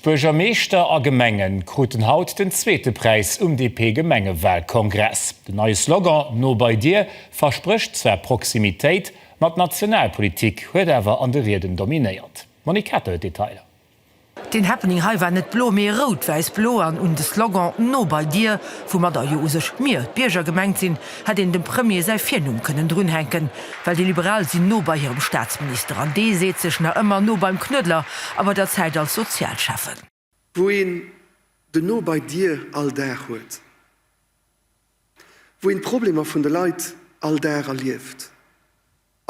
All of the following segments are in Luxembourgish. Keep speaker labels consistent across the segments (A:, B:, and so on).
A: Buergermeeschter a Gemenge kruten haut den zweete Präis um DP-Gemengewahlkongress. Den neie Slogan No bei Dir versprécht zwar Proximitéit, ma d'Nationalpolitik huet awer an de Rieden dominéiert. D'Monique Kater huet d'Detailer. Den
B: Happening hei war net blo, mee rout-wäiss-blo an un de Slogan No bei Dir, woumadder jo u sech mir, d'Bierger, gemengt sinn, hätt een dem Premier säi Virnumm kënnen drunhänken, well déi Liberal sinn no bei hirem Staatsminister an dee seet sech nach ëmmer no beim Knuedler a bei der Zäit als Sozialschäffen. Wou een
C: de no bei dir all Dag huet, wou een d'Problemer vun de Leit all Dag erlieft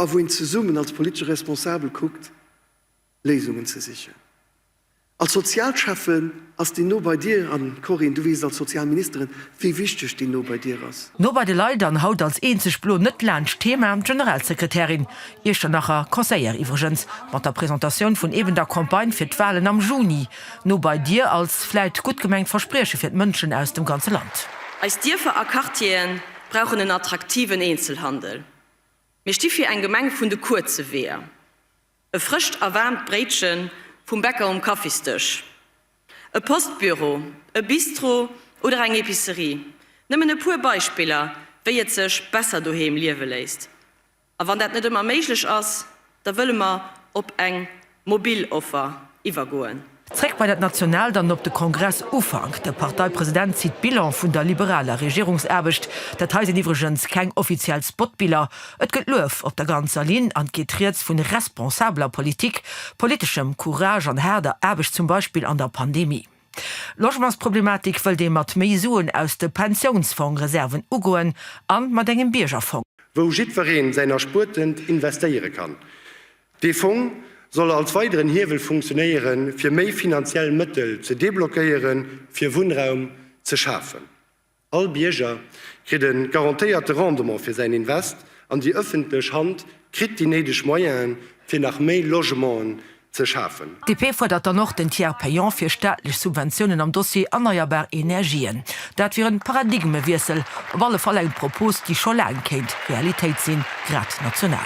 C: a wou een zesummen als politesche Responsabel kuckt, Léisungen ze sichen. Als Sozialschäffen ass déi no bei dir, an Corinne, du weess et als Sozialministerin, wéi wichteg déi no bei dir ass. No bei de Leit an haut
B: als eenzeg blo net laanscht d'Thema Generalsekretärin, Iechternacher Conseillère iwwregens, mat der Presentatioun vun eben der Campagne fir d'Wahlen am Juni. No bei dir als vläit gutt gemengt Versprieche fir d'Mënschen aus dem ganze Land. Eis Dierfer a
D: Quartiere brauchen en attraktiven Eenzelhandel. Mir sti fir eng Gemeng vun de kuerze Weeër. E frëscht a waarmt Bréitche vum Bäcker um Kaffisdësch, e Postbüro, e Bistro oder eng Epicerie, nëmmen e puer Beispiller, wéi et sech besser doheem liewe léisst. A wann dat net ëmmer méiglech ass, da wëlle mer op eng mobil Offer iwwergoen. Zréck bei dat
B: Nationaalt an op de Kongress Ufank. De Parteipresident zitt Bilan vun der liberaler Regierungsaarbecht. Dat hei sinn iwwregens keng offiziell Spotbiller. Et gëtt Luef op der ganzer Linn an et geet rieds vun responsabler Politik, politeschem Courage an haarder Aarbecht, zum Beispill an der Pandemie. Logementsproblematik wëllt ee mat méi Suen aus de Pensiounsfongreserven ugoen an mat engem Biergerfong. Wou jiddwereen
E: säin Erspuertent investéiere kann. Dee Fong soll als weideren Hiewel funktionéiere fir méi finanziell Mëttel ze deblockéiere fir Wunnraum ze schafen. All Bierger kritt e garantéierte Rendement fir säin Invest an déi ëffentlech Hand kritt déi néideg Moyene fir nach méi Logementen ze schafen. D'DP fuerdert dann och
B: den Tiers payant fir staatlech Subventiounen am Dossier erneierbar Energien. Dat wier en Paradigmewiessel, op alle Fall eng Propos, déi scho laang kéint Realitéit sinn, grad national.